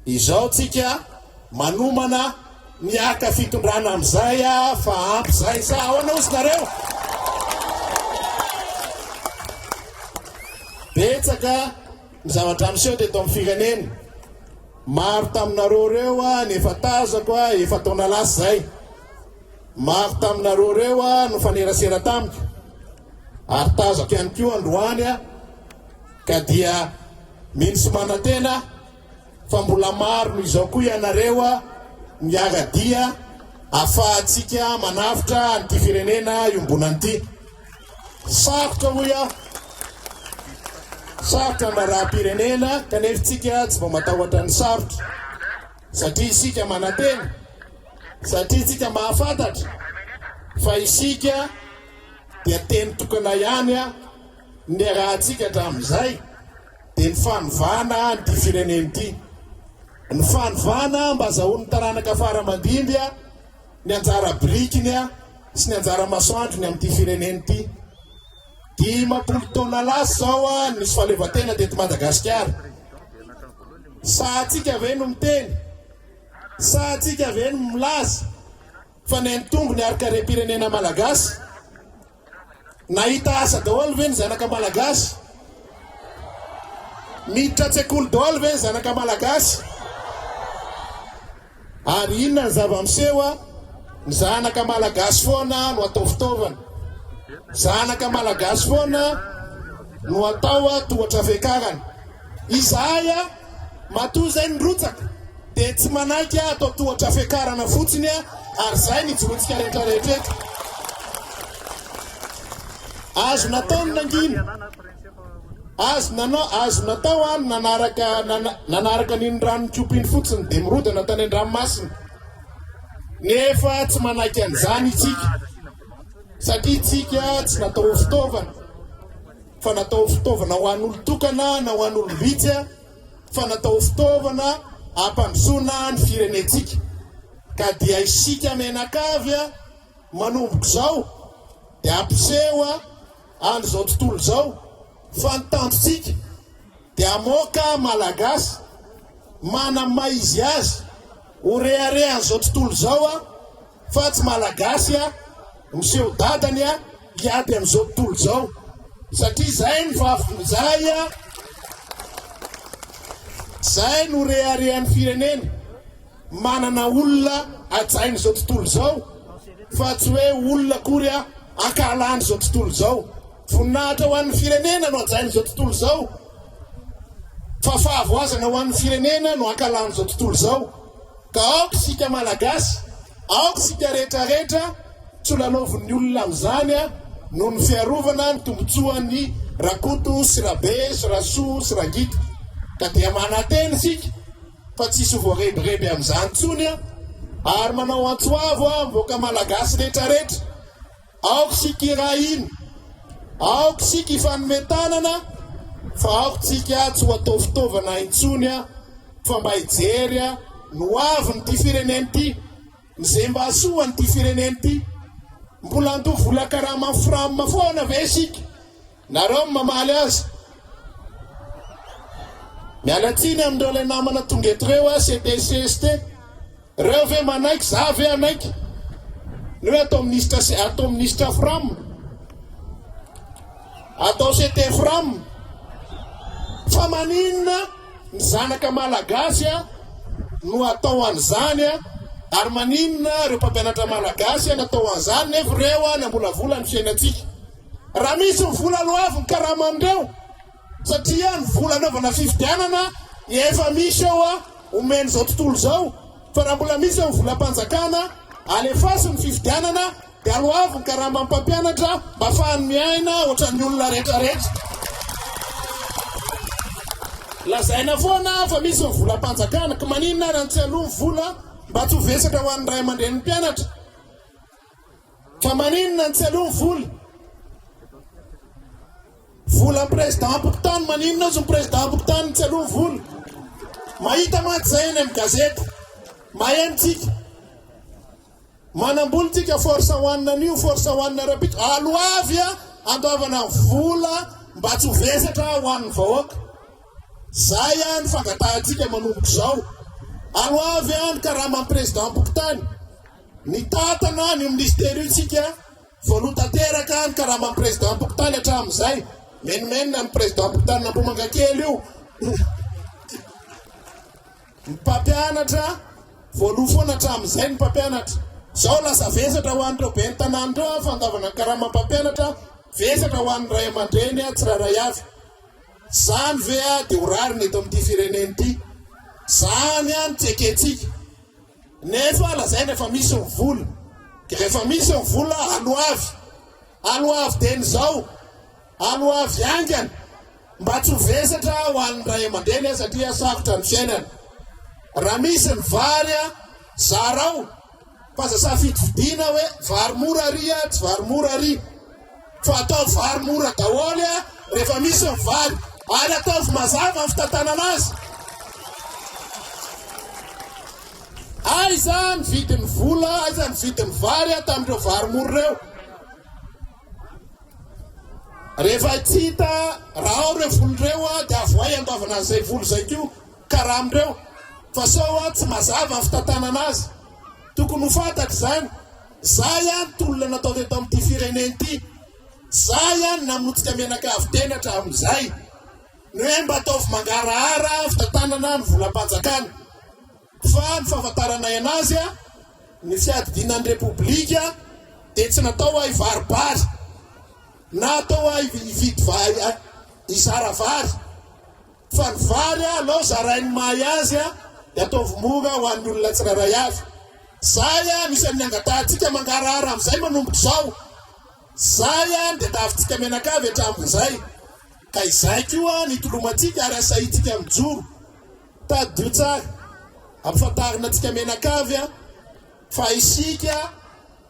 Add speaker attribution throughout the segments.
Speaker 1: Izao tsika manomana ny haka fitondrana amizay a fa ampy zay sa ahoana ozy nareo? Betsaka ny zavatra miseho teto amin'ny firenena. Maro taminareo reo a ny efa tazako a efa taona lasa zay. Maro taminareo reo a no fanerasera tamiko. ary tazako ihany koa androany a ka dia mino sy manantena fa mbola maro noho izao koa ianareo a miara dia afahantsika manavotra an'ity firenena iombonana ity sarotra hoy aho sarotra ny raharaham-pirenena kanefa tsika tsy vao matahotra ny sarotra satria isika manantena satria tsika mahafantatra fa isika dia teny tokana ihany aho niarahantsika hatramin'izay dia ny fanovana an'ity firenena ity. Ny fanovana mba hazahoan'ny taranaka fara aman-dimby ny anjara birikiny sy ny anjara masoandrony amin'ity firenena ity. Dimampolo taona lasa izao nisy fahaleovantena teto Madagasikara. Sahantsika ve no miteny? Sahantsika ve no milaza? Fa ny any Tombo ny harikarem-pirenena Malagasy? Nahita asa daholo ve ny zanaka Malagasy? Miditra an-tsekoly daholo ve ny zanaka Malagasy? Ary inona ny zava-miseho a? Ny zanaka Malagasy foana no atao fitaovana. Zanaka Malagasy foana no atao a tohatra fiakarana. Izahay a! Matoa izay ny rotsaka dia tsy manaiky aho atao tohatra fiakarana fotsiny aho ary izay ny jorontsika rehetra rehetra eto. Azo natao ny nangina. Azo nanao azo natao aho nanaraka nanaraka an'iny ranon'ny kopa iny fotsiny dia mirodana tany an-dranomasina. Nefa tsy manaiky an'izany isika. Satria isika tsy natao ho fitaovana. fa natao ho fitaovana ho an'olon-tokana na ho an'olom-bitsy, fa natao ho fitaovana hampandrosoana ny firenentsika. Ka dia isika mianakavy manomboka izao dia hampiseho an'izao tontolo izao fa ny tanjontsika dia hamoaka Malagasy manam-maha izy azy ho reharehan'izao tontolo izao, Fa tsy malagasy a! Miseho dadany a! Hiady amin'izao tontolo izao satria izay no vavy izay a! Izay no reharehan'ny firenena. Manana olona hajain'izao tontolo izao fa tsy hoe olona akory a! Ankahalan'izao tontolo izao. Voninahitra ho an'ny firenena no hajain'izao tontolo izao fa fahavoazana ho an'ny firenena no ankahalan'izao tontolo izao. Ka aoka isika Malagasy, aoka isika rehetra rehetra tsy ho lalaovin'ny olona amin'izany a, noho ny fiarovana ny tombotsoan'ny Rakoto sy Rabe sy Rasoa sy Rangita. Ka dia manantena isika fa tsy hisy ho voarebireby amin'izany intsony a, ary manao antso avo aho amin'ny vahoaka Malagasy rehetra rehetra, Aoka isika hiray hina, aoka isika hifanome tanana fa aoka tsika tsy ho atao fitaovana intsony a, fa mba hijery a, ny ho avin' ity firenena ity, ny ze mba hasoan' ity firenena ity. Mbola handoa vola karaman' ny fram foana ve isika? Nareo no mamaly azy. Miala tsiny amindreo lay namana tonga eto reo a c'était cst reo ve manaiky za ve hanaiky ny hoe atao ministra sy atao ministra fram atao ct fram fa maninona ny zanaka malagasy a no atao an'izany a ary maninona reo mpampianatra malagasy a natao an'izany nefa reo a nambolavola ny fiainantsika Raha misy ny vola aloavy ny karaman'ireo satria ny vola anaovana fifidianana dia efa misy eo a omen'izao tontolo izao fa raha mbola misy ny volam-panjakana alefaso ny fifidianana dia aloavy ny karamam mpampianatra mba afahany miaina ohatran'ny olona rehetrarehetra lazaina foana fa misy ny volam-panjakana ka maninona raha ny tsy aloha ny vola mba tsy ho vesatra ho an'ny ray aman-drenin'ny mpianatra Fa maninona ny tsy aleo ny vola? Vola président mpokotany, maninona azy ny président mpokotany ny tsy aleo ny vola? Mahita mantsy izay any amin'ny gazety, mahay antsika. Manambola tsika force one anio, force one rapito, alo avy a, andoavana vola mba tsy ho vesatra ho an'ny vahoaka. Zay a ny fangatahantsika manomboka izao. Alo avy a ny karaman'ny président mpokotany. Nitantana an'io minisitera io isika, voaloha tanteraka ny karaman'ny prezidanim-pokontany hatramin'izay, menomenona ny prezidanim-pokontanin'Ambohimangakely io, ny mpampianatra, voaloha foana hatramin'izay ny mpampianatra. Izao lasa vesatra ho an'ireo ben'ny tanàna ireo ny fandavana ny karaman'ny mpampianatra, vesatra ho an'ny ray aman-dreny tsirairay avy. Izany ve dia ho rariny eto amin'ity firenena ity? Izany no tsy ekentsika. Nefa lazaina efa misy ny vola. Dia rehefa misy ny vola, aloavy. Aloavy dieny izao. Aloavy haingana. Mba tsy ho vesatra ho an'ny ray aman-dreny satria sarotra ny fiainana. Raha misy ny vary, zarao. Fa aza safidifidiana hoe vary mora àry, tsy vary mora àry. Fa ataovy vary mora daholo a rehefa misy ny vary ary ataovy mazava ny fitantanana azy. Aiza ny vidin'ny vola, aiza ny vidin'ny vary a tamin'ireo vary mora ireo? Rehefa tsy hita raha ao ireo vola ireo a dia avoay andoavana an'izay vola izay koa karama ireo fa sao a tsy mazava ny fitantanana azy. Tokony ho fantatra izany. Zay any tolona natao teto amin ity firenena ity, zay any namotika mianakavy teny hatramin zay, ny hoe mba ataovy mangarahara fitantanana ny volam-panjakana, fa ny fahafantaranay anazy a, ny fiadidiana ny repoblika dia tsy natao ha hivaribary, na atao ha hividy vary, hizara vary. Fa ny vary a alao zarain'ny mahay azy a de ataovy mora ho an'ny olona tsirairay avy. Zay a misy an'ny angatahantsika mangarahara amzay manomboka izao. Zay a ny diadavintsika mianakavy hatramin'izay. Ka izay koa ny hitolomantsika ary asahintsika mijoro. Tadidio tsara. Ampafantarina antsika mianakavy a fa isika.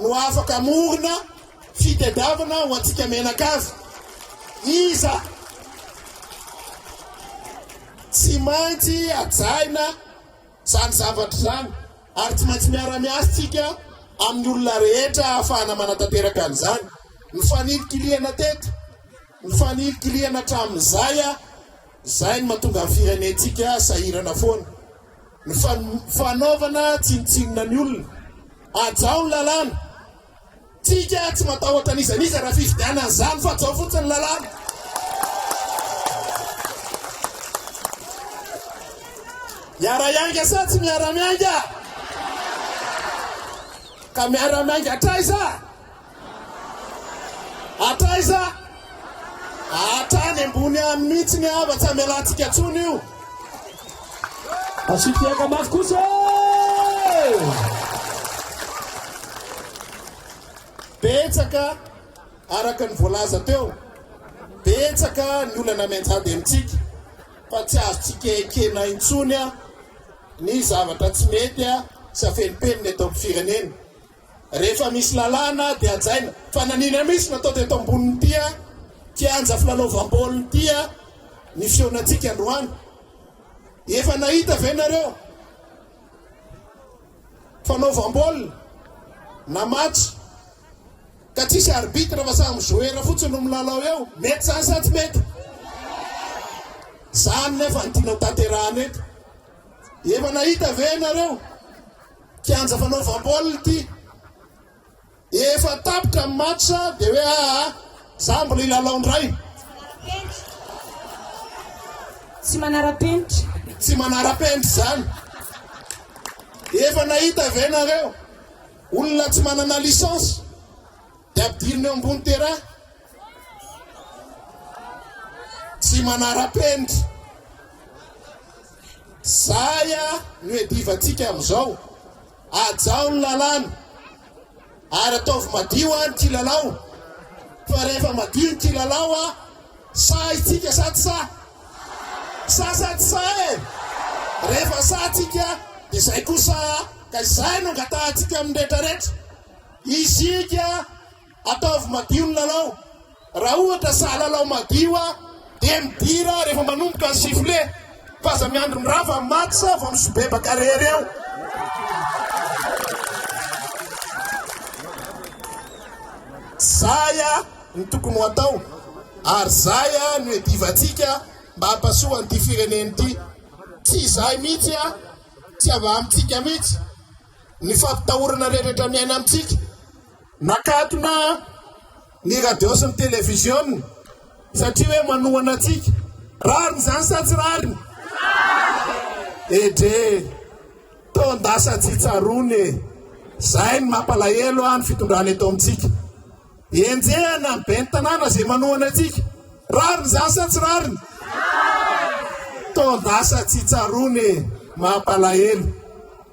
Speaker 1: no afaka hamorona fitediavana ho antsika mianakavy. Iza tsy maintsy hajaina izany zavatra izany ary tsy maintsy miara-miasa tsika amin'ny olona rehetra ahafahana manatanteraka an'izany. Ny fanilikilihana teto, ny fanilikilihana hatramin'izay Izay no mahatonga ny firenentsika sahirana foana. Ny fanaovana tsinontsinona ny olona. Hajao ny lalàna. Tsika tsy matahotra n'iza n'iza raha fifidianana izany fa hajao fotsiny ny lalàna. Miara hiainga sa tsy miara miainga? Ka miara miainga hatraiza? Hatraiza? Hatrany ambony any mihitsy ny hava, tsy hamelantsika intsony io. Asio
Speaker 2: fiaka mafy kosa e!
Speaker 1: Betsaka araka ny voalaza teo, betsaka ny olana mianjady amintsika fa tsy azontsika ekena intsony ny zavatra tsy mety sy afenimpenina eto amin'ny firenena. Rehefa misy lalàna dia hajaina. Fa nanina mihitsy natao teto ambonin'ity kianja filalaovam-baolina ity ny fihaonantsika androany. Efa nahita ve nareo fanaovam-baolina na match ka tsisy arbitre fa samy joueur fotsiny no milalao eo? Mety zany sa tsy mety? Zany nefa ny tianao tanterahana eto. Efa nahita ve nareo? Kianja fanaovam-baolina ity. Efa tapitra ny match dia hoe aa ah, za mbola hilalao indray.
Speaker 3: Tsy manara-penitra. Tsy manara-penitra
Speaker 1: izany. Efa nahita ve nareo olona tsy manana licence dia ampidirina eo ambony terrain? Tsy manara-penitra. Zaya no iadivantsika amin'izao. Hajao ny lalàna ary ataovy madio an ity lalao fa rehefa madio ity lalao an sahy tsika sa tsy sahy? Sahy sa tsy sahy e? Rehefa sahy tsika dia izay kosa ka izay no angatahantsika amin'ny rehetra rehetra. Isika. Ataovy madio ny lalao. Raha ohatra saha lalao madio a dia midira rehefa manomboka ny sifflet fa aza miandry mirava ny match vao misibebaka rery eo. Zay a ny tokony ho atao ary zay a no edivantsika mba hampasoa an'ity firenena ity. Tsy izay mihitsy a, tsy avy amintsika mihitsy. ny fampitahorana rehetra miaina amintsika. Nakatona ny radio sy ny televiziona satria hoe manohana antsika. Rariny izany sa tsy rariny? Edre, taon-dasa tsy tsaroana e. Izay ny mampalahelo ahy ny fitondrana eto amintsika. Enjehana ny ben'ny tanàna izay manohana antsika. Rariny izany sa tsy rariny? Taon-dasa tsy tsaroana e, mampalahelo.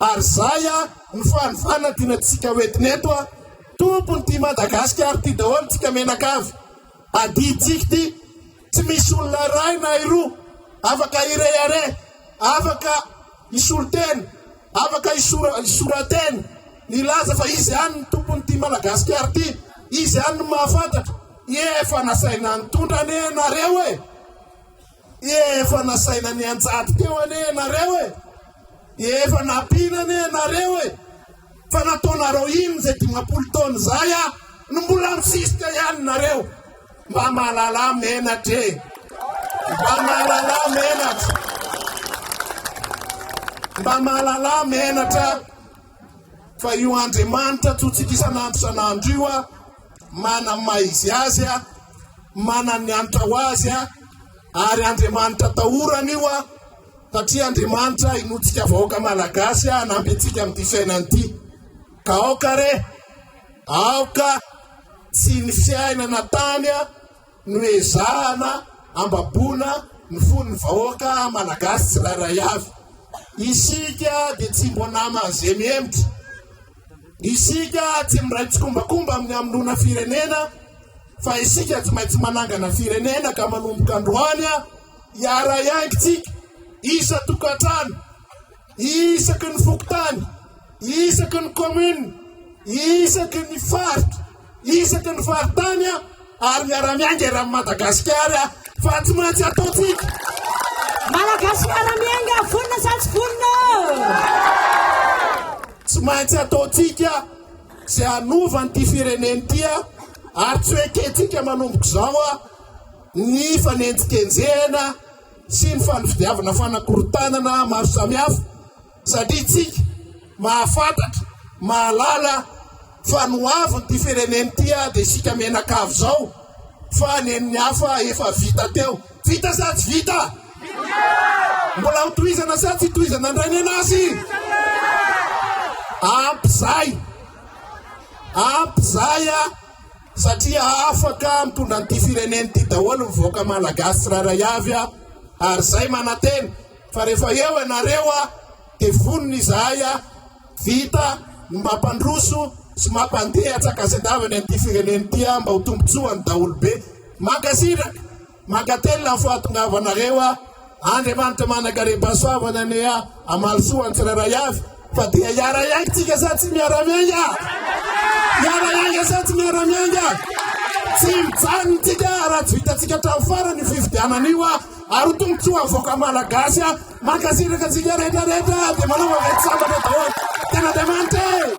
Speaker 1: Ary zay a ny fanovana dina tsika ho entina eto a! Tompony ty Madagasikara ty daholo tsika menakavy! Adintsika ty tsy misy olona iray na iroa afaka hirehareha, afaka hisolo tena, afaka hisora hisoratena, nilaza fa izy ihany ny tompony ty Madagasikara ty, izy ihany no mahafantatra, efa nasaina nitondra anie nareo e! Efa nasaina nianjady teo anie ianareo e! Efa nampiana anie ianareo e! Fa nataonareo inona izay dimampolo taona izay a? No mbola misisika ihany nareo. Mba mahalala menatra e! Mba mahalala menatra! Mba mahalala menatra! Fa io Andriamanitra antsointsika isan'andro isan'andro io a, manana ny maha izy azy a, manana ny hanitra ho azy a, ary Andriamanitra atahorana io a, satria Andriamanitra inoantsika vahoaka malagasy a, hanampy antsika amin'ity fiainana ity. Ka aoka re, aoka tsy ny fiainana tany a, Noezahana hambaboana ny fon'ny vahoaka Malagasy tsirairay avy. Isika dia tsy mbo nama ze mihemotra. Isika tsy miray tsikombakomba amin'ny hamonoana firenena fa isika tsy maintsy manangana firenena ka manomboka androany hiara-hiaingintsika isa-tokantrano. isaky ny fokontany, isaky ny commune, isaky ny faritra, isaky ny faritany ary miara-miainga eran'i Madagasikara fa tsy maintsy ataontsika.
Speaker 3: Malagasy miara-miainga vonona sa tsy vonona?
Speaker 1: Tsy maintsy ataontsika sy hanova an'ity firenena ity ary tsy hoe kentsika manomboka izao ny fanenjikenjehana sy ny fandividiavana fanakorontanana maro samihafa satria tsika mahafantatra mahalala fa ny ho aviny ity firenena ity ah dia isika menakavy izao fa nen'ny hafa efa vita teo vita sa tsy vita mbola ho tohizana sa tsy tohizana indray nenazy ampy zay ampy zay a Satria afaka mitondra an'ity firenena ity daholo ny vahoaka malagasy tsirairay avy a, ary izay manantena fa rehefa eo ianareo a, dia vonona izahay a, vita ny mampandroso sy mampandeha tsakasendavany an'ity firenena ity a, mba ho tombontsoan'ny daholobe. Mankasitraka. Mankatelina ny fahatongavanareo aho. Andriamanitra manankarebasoavana anie hamaly soa ny tsirairay avy fa dia hiara-hiainga tsika sa tsy miara-miainga? Hiara-hiainga sa tsy miara-miainga? Tsy mijanona tsika raha tsy vitantsika hatramin'ny farany io fifidianana io ary ho tombontsoa ny vahoaka malagasy. Mankasitraka antsika rehetra rehetra dia manao vaventy sambatra daholo. Tena Andriamanitra e!